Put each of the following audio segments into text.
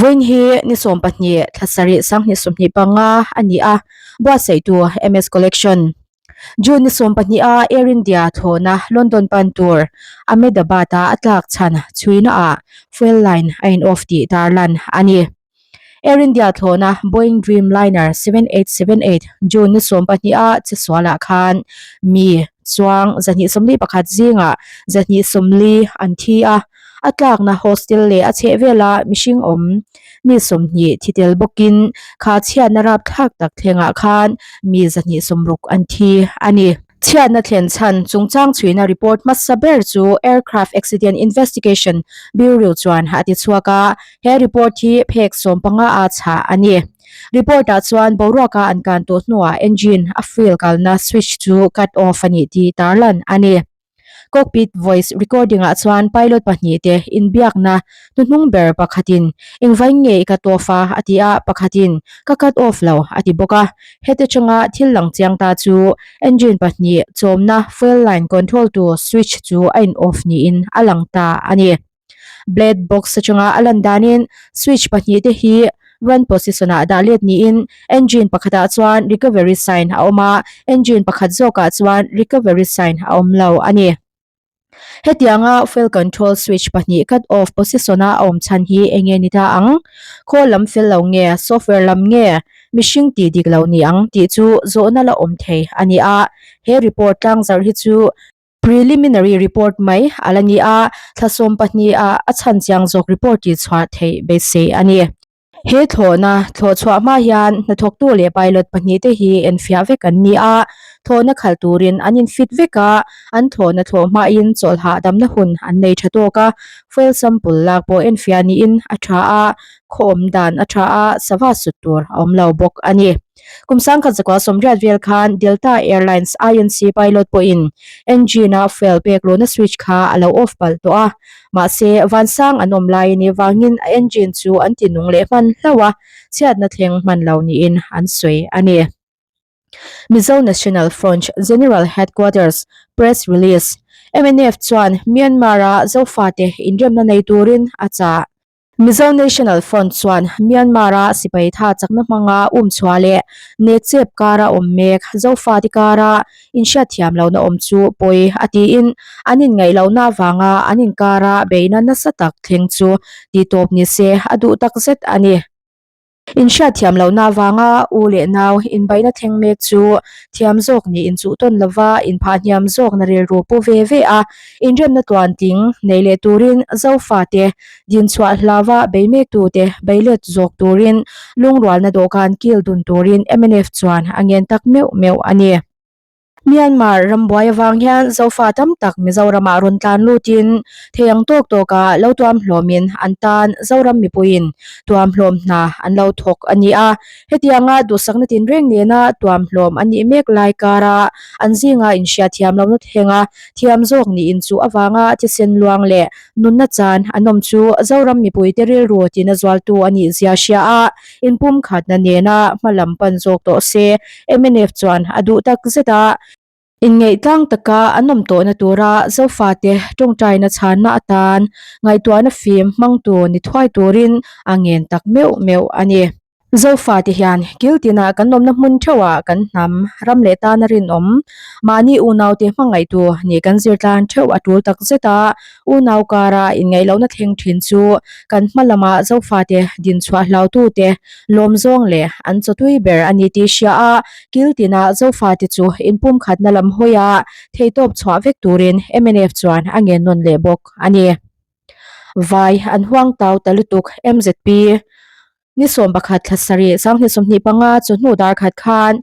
Vawiin hi ni sawm pahnih thla sarih sang hnihsuh hnih panga a ni a buatsaihtu MS Collection. June ni sawm pahnih a Air India thlawna London pan tur Ahmedabad a a tlak chhan chhuina ah fuel line a in off tih dar lan a ni. Air India thlawna Boeing Dreamliner seven eight seven eight June ni sawm pahnih a chhesual ah khan mi chuang zahnih sawmli pakhat zing ah zahnih sawmli an thi a, A tlakna hostel leh a chhehvela mihring awm mi sawmhnih thi tel bawkin kha chhiatna rapthlak tak thlengah khan mi zahnih sawmruk an thi a ni. Chhiatna thlen chhan chungchang chhuina report hmasa ber chu Aircraft Accident Investigation Bureau chuan a ti chhuak a, he report hi phek sawm panga a chhah a ni. Report ah chuan boruaka an kan tawh hnuah engine a fuel kalna switch chu cut off a nih tih tarlan a ni. Cockpit voice recording ah chuan pilot pahnih te inbiakna hnuhnung ber pakhatin, Engvain nge i cut off a? a ti a, pakhatin, Ka cut off lo, a ti bawk a. Hete chunga thil lang chiang ta chu engine pahnih chawmna fuel line control tu switch chu a in off niin a lang ta a ni. Black box atanga a lan danin switch pahnih te hi run position ah dah let niin engine pakhatah chuan recovery sign a awm a, engine pakhat zawkah chuan recovery sign a awm lo a ni. Hetianga fuel control switch pahnih cut off position a awm chhan hi eng nge ni ta ang? Khawl lam fel lo nge, software lam nge, mihring tih dik lo ni ang tih chu zawhna la awm thei a ni a, he report tlangzarh hi chu Preliminary report mai a la ni a, thlasawm pahniha a chhan chiang zawk report tih chhuah theih beisei a ni. He thlawhna thlawh chhuah hma hian hnathawktu leh pilot pahnih te hi en fiah vek an ni a, thlawhna khal turin an in fit vek a, an thlawhna thlawh hmain chawlhah damna hun an nei tha tawk a, fuel sample lak pawh en fiah niin a tha a, khawawm dan a tha a, sava sut tur a awm lo bawk a ni. Kum sangkhat zakua sawmriat vel khan Delta Airlines INC pilot pawhin engine-a fuel pek luhna switch kha a lo off palh tawh a. Mahse, vansang an awm lai ni vangin a engine chu an ti nung leh hman hlauh a, chhiatna thleng hman lo niin an sawi a ni. Mizo National Front General Headquarters Press Release, MNF chuan Myanmar-a zofate inremna nei turin a chah. Mizo National Front chuan Myanmar-a sipai tha chakna hmanga um chhuah leh net chep kar a awm mek, Zofati kara inhriat thiam lohna awm chu pawi a tiin an inngaihlohna avanga an inkara beihna nasa tak thleng chu titawp ni se a duh takzet a ni. In hriat thiam lohna avanga u leh nau inbaina thleng mek chu thiam zawk ni in chuh tawn lova in phah hniam zawk na rilru pu ve ve a. In remna tuan ting nei leh turin Zofa te, din chhuah hlava bei mek tu te bei let zawk turin lungrualna dawhkan kil dun turin mnf chuan a ngen tak meuh meuh a ni. Myanmar ram buai avang hian Zofa tam tak Mizoram ah rawn tlan lut in thei ang tawk tawk a lo tuam hlawm in an tan Zoram mipui in tuam hlawm hna an lo thawk a ni a. Hetiang a duhsakna tin reng nen a tuam hlawm a nih mek lai kar a an zing a inhria thiam lo na thleng a thiam zawk ni in chu avang a thisen luang leh nunna chan an awm chu Zoram mipui te rilru tin a zual tu a nih zia hria a. In pumkhatna nena hma lam pan zawk tawh se, mnf chuan a duh tak zet a. In ngaihtlang taka an awm tawhna tura Zofate tawngtaina chhanna atan ngaihtuahna fim hmang tur ni thuai turin a ngen tak meuh meuh a ni. Zofate hian kiltinah kan awmna hmun theuhah kan hnam ram leh tana rinawm mahni unaute hmangaihtu nih kan zirtlang theuh a tul tak zet a, U Naukara inngaihlohna thleng thin chu kan hma lama Zofate dinchhuah hlautute lawm zawng leh an chaw tui ber a ni tih hria a, kiltina Zofate chu inpumkhatna lam hawia theitawp chhuah vek turin mnf chuan a ngennawn leh bawk a ni. Vai an huangtau ta lutuk mzp Ni sawm pakhat thla sarih sang ni sawmhnih panga chu hnu darkhat khan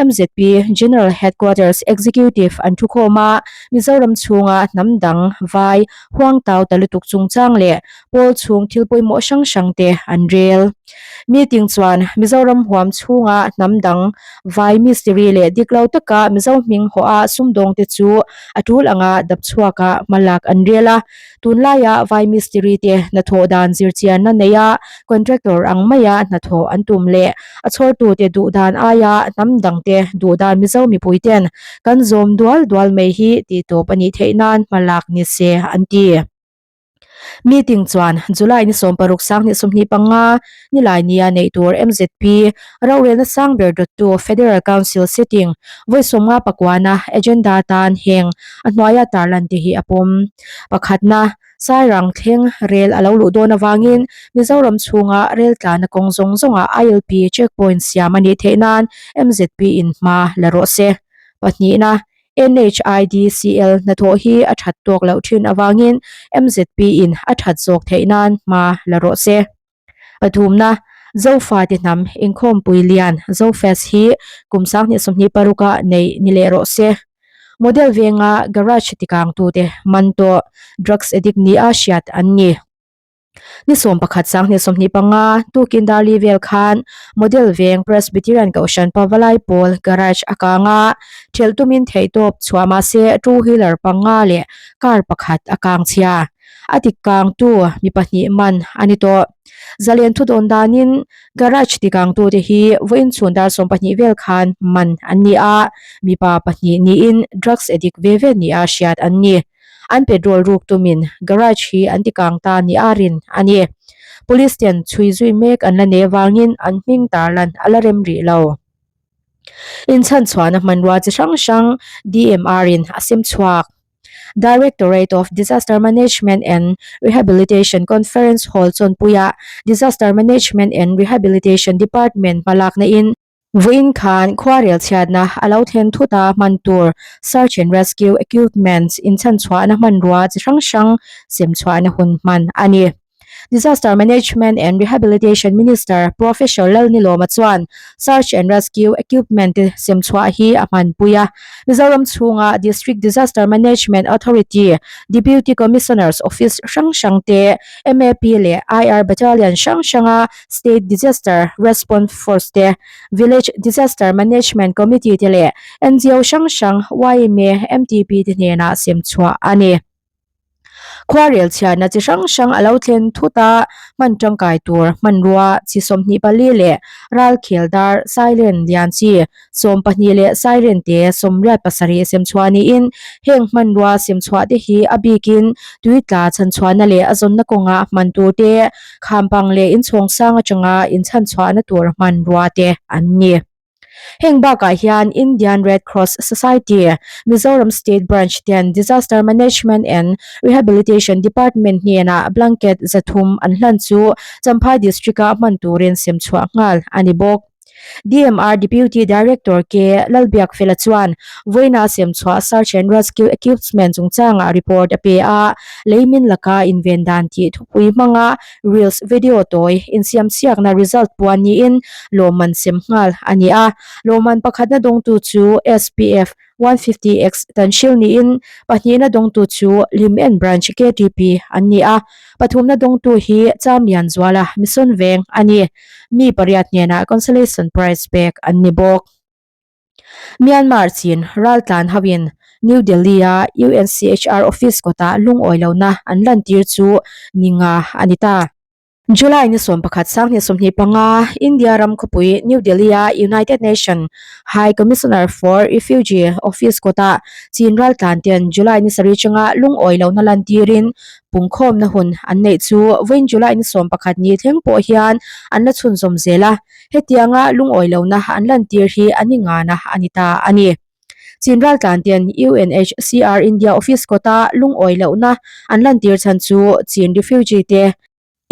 MZP General Headquarters Executive an thu khawm a, Mizoram chhunga hnam dang, vai, huangtau ta lutuk chungchang leh pawl chhung thil pawimawh hrang hrang te an rel. Meeting chuan Mizoram huam chhunga hnam dang, vai, mistiri leh diklo taka Mizo hming hawha sumdawngte chu a tul anga dap chhuakah hmalak an rel a, Tunlaia vai mistiri te hnathawh dan zirchianna neia contractor ang maia hnathawh an tum leh a chhawrtute duh dan aia hnam dangte duh dan Mizo mipuite'n kan zawm dual dual mai hi tihtawp a nih theih nan hma lak ni se an ti. Meeting chuan July ni sawm paruk sang hnih sum hnih panga nilai nia neih tur MZP rorelna sang ber dawttu Federal Council setting vawisawmnga pakuana agenda tan heng a hnuaia tarlan te hi a pawm. Pakhatna, Sairang thleng rel a lo luh dawn avangin Mizoram chhunga rel tlanna kawng zawng zawnga ILP checkpoint siam a nih theih nan MZP in hma la rawh se. Pahnihna, NHIDCL hnathawh hi a that tawk loh thin avangin MZP in a that zawk theih nan hma la rawh se. Pathumna, Zofa ti hnam, Inkhawmpui lian, Zofest, hi kum sang hnih sawmhnih paruka nei ni leh rawh se. Model venga garage tikang tute man tawh drugs addict nia hriat an ni. Ni sawm pakhat sang hnih sawmhnih panga tukin Darli vel khan model veng Presbyterian Kohhran Pavalai pawl garage a kanga ṭhelh tumin theihtawp chhuah mahse two wheeler panga leh car pakhat a kang chhia. A tikkangtu mi pahnih man a ni tawh. Zalen thudawn danin garage tikangtute hi vawiinchhun dar sawm pahnih vel khan man an ni a, mipa pahnih niin drugs addict ve ve nia hriat an ni. An petrol ruk tumin garage hi an tikang ta ni a rin a ni. Police ten chhui zui mek an la nei avangin an hming tar lan a la rem rih lo. Inchhanchhuahna hmanrua chi hrang hrang DMR-in a sim chhuak. Directorate of Disaster Management and Rehabilitation Conference Hall chawnpuia Disaster Management and Rehabilitation Department hmalak naihin, vuiin khan khuarel chhiatna a lo thlen thut a, hman tur Search and Rescue Equipments inchhanchhuahna hmanrua chi hrang hrang semchhuahna hun hman a ni. Disaster Management and Rehabilitation Minister Professor Lalnilawma chuan Search and Rescue Equipment te semchhuah hi a hmanpui a, Mizoram chhunga District Disaster Management Authority, Deputy Commissioner's Office hrang hrang te, MAP leh IR Battalion hrang hranga State Disaster Response Force te, Village Disaster Management Committee te leh NGO hrang hrang, YMA, MTP te hnenah semchhuah a ni. Khuarel chhiarna chi hrang hrang a lo thlen thut a, hman tangkai tur hmanrua chi sawmhnih pali leh ral khel dar Sailen lian chi sawm pahnih leh Sailen te sawmriat pasarih sem chhuah niin heng hmanrua sem chhuah te hi a bikin tui tla chhan chhuahna leh a zawnna kawnga hman tur te khampang leh inchhawng sang atanga inchhan chhuahna tur hmanrua te an ni. Heng bakah hian Indian Red Cross Society, Mizoram State Branch te an Disaster Management and Rehabilitation Department hnenah blanket zathum an hlan chu Champhai District a hman turin sem chhuah nghal a ni bawk. DMR Deputy Director K Lalbiakfela chuan vawiina sem chhuah Search and Rescue Equipsment chungchangah report a pe a, lei min laka inven dan tih thupui hmanga Reels video tawi insiamsiakna result puan niin lawmman sem nghal a ni a. Lawmman pakhatna dawngtu chu SPF one fifty X kan hrilh niin pahnihna dawngtu chu Limen Branch KTP an ni a. Pathumna dawngtu hi Cham Lianzuala Mission Veng a ni. Mi pariat hnenah consolation prize pek an ni bawk. Myanmar Chin raltlan hoin New Delhi-a UNCHR office kawtah lungawi lohna an lantir chu ni nga a ni ta. July ni sawm pakhat sanghnih sawmhnih panga India ram khawpui New Delhi-a United Nation High Commissioner for Refugee office kawtah Chin raltlan ten July ni sarih chunga lungawi lohna lantirin pungkhawmna hun an neih chu vawiin July ni sawm pakhat ni thleng pawh hian an la chhunzawm zel a. hetianga lungawi lohna an lantir hi a ni ngan a a ni ta a ni. Chin Raltlante'n UNHCR India Office kawta lungawi lohna an lantir chhan chu Chin refugee te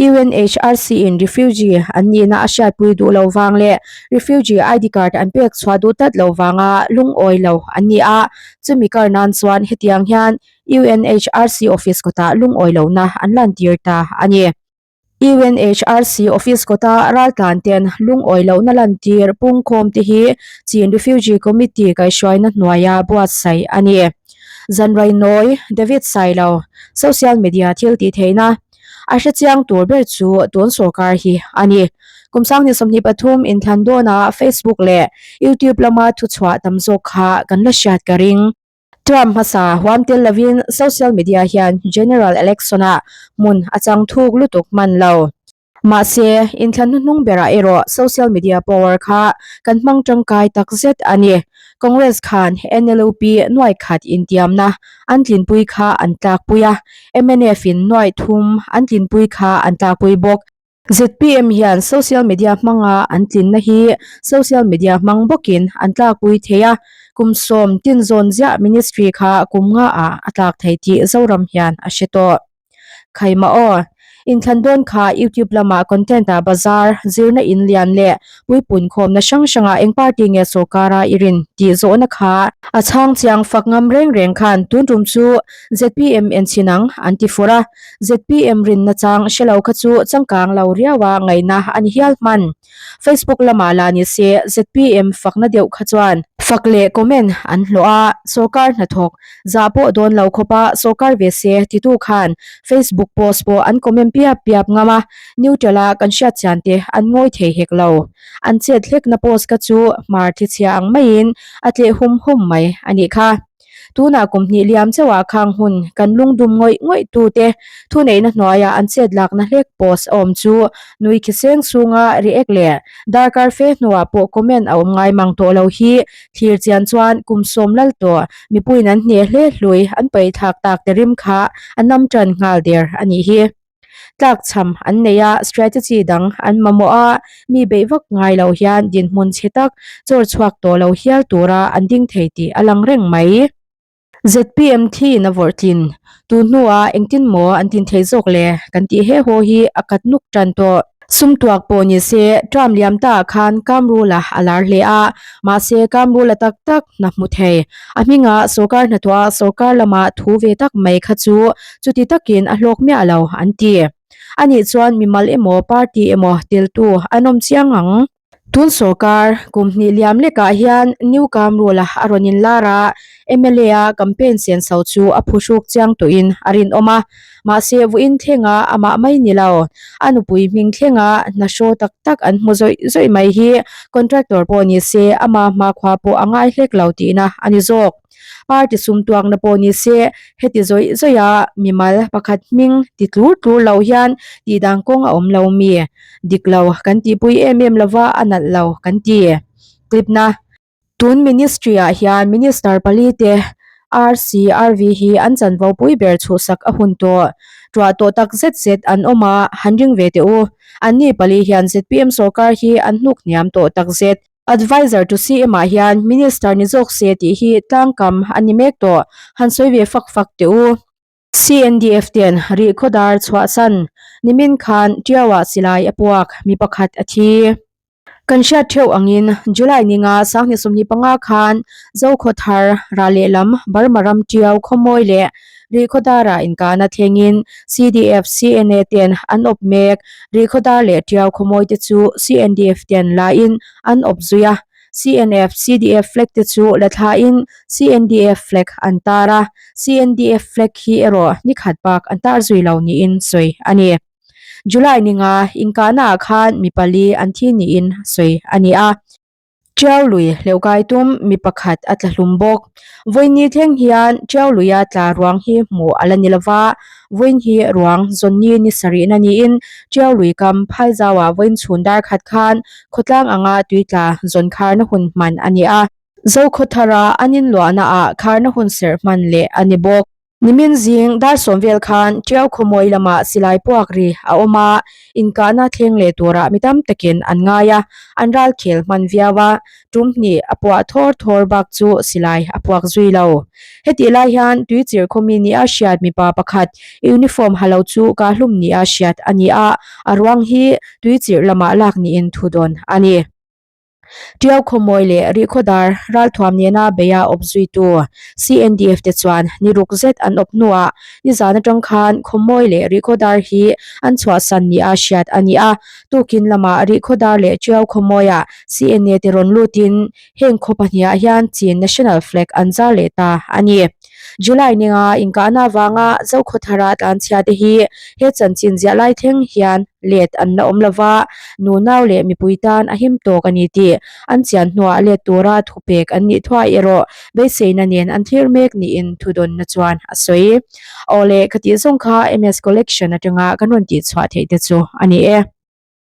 UNHRC-in refugee an nihna a hriatpui duh lo vang leh refugee ID card an pek chhuah duh tlat lo vanga lungawi lo an ni a. Chumi kar nan chuan hetiang hian UNHRC Office kawtah lungawi lohna an lantir ta a ni. UNHRC office kawta raltlante'n lungawi lohna lantir pungkhawmte hi Chin Refugee Committee kaihruaina hnuaia buatsaih a ni. Zanrainawi David Sailo social media thiltihtheihna a hrechiang tur ber chu tun sawrkar hi a ni. Kum Sanghnih sawmhnih pathum inthlan dawnah Facebook leh YouTube lama thuchhuah tam zawk kha kan la hriat ka ring. Trump hmasa huam tel lovin social media hian general election-ah hmun a chang thuk lutuk hman lo. Mahse, intla hnuhnung berah erawh social media power kha kan hmang tangkai takzet a ni. Congress khan NLUP nuai khat intiamna an tlinpui kha an tlakpui a, MNF-in nuai thum an tlinpui kha an tlakpui bawk. Zpm hian social media hmanga an tlinna hi social media hmang bawkin an tlakpui thei a, kum sawm tin zawn ziah ministry kha kum nga ah a tlak thei tih Zoram hian a hre tawh. Khaimah aw. Inthlan dawn kha youtube lama content a bazar zirna in lian leh puipuiin khawmna hrang hrangah eng party nge sorkara i rin tih zawhna kha a chhang chiang fak ngam reng reng khan tun tum chu zpm en chhin ang an ti fur a, zpm rinna chang hre lo kha chu changkang lo riaua ngaihna a ni hial hman. Facebook lama la ni se zpm fakna deuh kha chuan fak leh comment an hlawh a, sorkar hnathawk Zah pawh dawn lo khawp a, sawrkar ve se titu khan Facebook post pawh an comment piap piap ngam a, neutral a kan hriat chian te an ngawi thei hek lo. An chet hlekna post ka chu hmar thlechhia ang maiin a tleh hum hum mai a nih kha. Tunah kum hnih liam chauhah khang hun kan lungdum ngawih ngawih tu te thuneihna hnuaia an chet lakna hlek post a awm chu nui khiseng chhunga react leh darkar fe hnuah pawh comment a awm ngai mang tawh lo hi thir chian chuan kum sawm lal tawh mipuiin an hniah hle hlui an paih thlak tak te rim kha a nam tan nghal der a nih hi. Tlak chham an nei a, strategy dang an mamawh a, mi bei vak ngai lo hian dinhmun chhe tak chawr chhuak tawh lo hial tura an ding thei tih a lang reng mai. Zpm thlin a vawrh tlin. Tun hnua engtin maw an tin thei zawk le, kan tih he haw hi a kat nuk tan tawh. Sumtuak pawh ni se, Trump liam ta ah khan kam rula a lar hle a, mahse kam rula tak tak hna hmu thei. A hminga sorkar hnathawha sorkar lama thu ve tak mai kha chu chuti takin a hlawk miah lo an ti. Anih chuan mimal emaw party emaw teltu an awm chiang ang. Tun sorkar kum hnih liam lekah hian New Kam Rule-a a rawn inlar a, mla-a campaign sian so chu a phu hruk chiang tuihin a rinawm a. Mahse, vuin thlenga amah mai ni lo, a nupui hming thlenga hna hraw tak tak an hmu zawih zawih mai hi contractor pawh ni se, amah hma khua pawh a ngai hlek lo tihna a ni zawk. Party sumtuakna pawh ni se, heti zawih zawia mimal pakhat hming ti tlur tlur lo hian tihdang kawng a awm lo mi? Dik lo kan tihpui em em lova a nalh lo kan ti. Clip na. Tun Ministry ah hian Minister pali te RC, RV hi an chanvo pui ber chhuhsak a hun tawh, tuah tawh tak zet zet an awm a, han ring ve teh u. Anni pali hian zpm sorkar hi an hnuk hniam tawh tak zet. Advisor to CM ah hian Minister ni zawk se tih hi tlangkam a ni mek tawh, han sawi ve fak fak teh u. CNDF ten rih khaw dar chhuah san nimin khan tiau ah silai a puak mi pakhat a thi. Kan hriat theuh angin July ninga sang hnih sawmhnih panga khan Zokhawthar, Ralehlam, Burma ram tiau khawmawi leh. Rihkhawdar ah inkahna thleng in CDF, CNA te an awp mek. Rihkhawdar leh tiau khawimawi te chu CNDF te an la in an awp zui a. CNF, CDF flag te chu la thla in CNDF flag an tar a. CNDF flag hi erawh nikhat bak an tar zui lo niin sawi a ni. July ninga inkahna ah khan mi pali an thi niin sawi a ni a. Ṭiau lui hleuhkai tum mi pakhat a tla hlum bawk. Vawiin ni thleng hian Ṭiau luia tla ruang hi hmuh a la ni lo va, vawiin hi ruang Johnny ni sa rihna niin Ṭiau lui kam phai zauah vawiin chhun dar khat khan khawtlang anga tui tla zawn kharna hun hman a ni a. Zokhawthara an inluahnaah kharna hun serh hman leh a ni bawk. Nimin zing dar sawm vel khan Tiau Khawmawii lamah silai puak ri a awm a, inkahna thleng leh turah mi tam takin an ngai a, an ral khel hman viau a, tum hnih a puah thawr thawr bak chu silai a puak zui lo. Hetih lai hian tui chir khawmi nih a hriat mipa pakhat uniform ha lo chu Kahlum nih a hriat a ni a, a ruang hi tui chirh lamah lak niin thu dawn a ni. Tiau khawmawi leh rihkhaw dar ralthuam nena beia awp zuitu CNDF te chuan ni ruk zet an awp hnuah nizan atang khan khawmawi leh rihkhaw dar hi an chhuahsan nih a hriat a ni a. Tukin lamah rihkhaw dar leh tiau khawmawia CNA te rawn lutin heng khaw pahniha hian Chin National Flag an zar leh ta a ni. July nenga inkahna avanga Zokhua Thara tlanchhiate hi he chanchin ziah lai thleng hian let an la awm lo va, nunau leh mipui tan a him tawk a ni tih an chian hnuah let tura thupek an nih thuai erawh beiseina nen an thlir mek niin thudawnna chuan a sawi. Awle, ka tih zawng kha MS Collection atanga kan rawn tihchhuah theih te chu a ni e.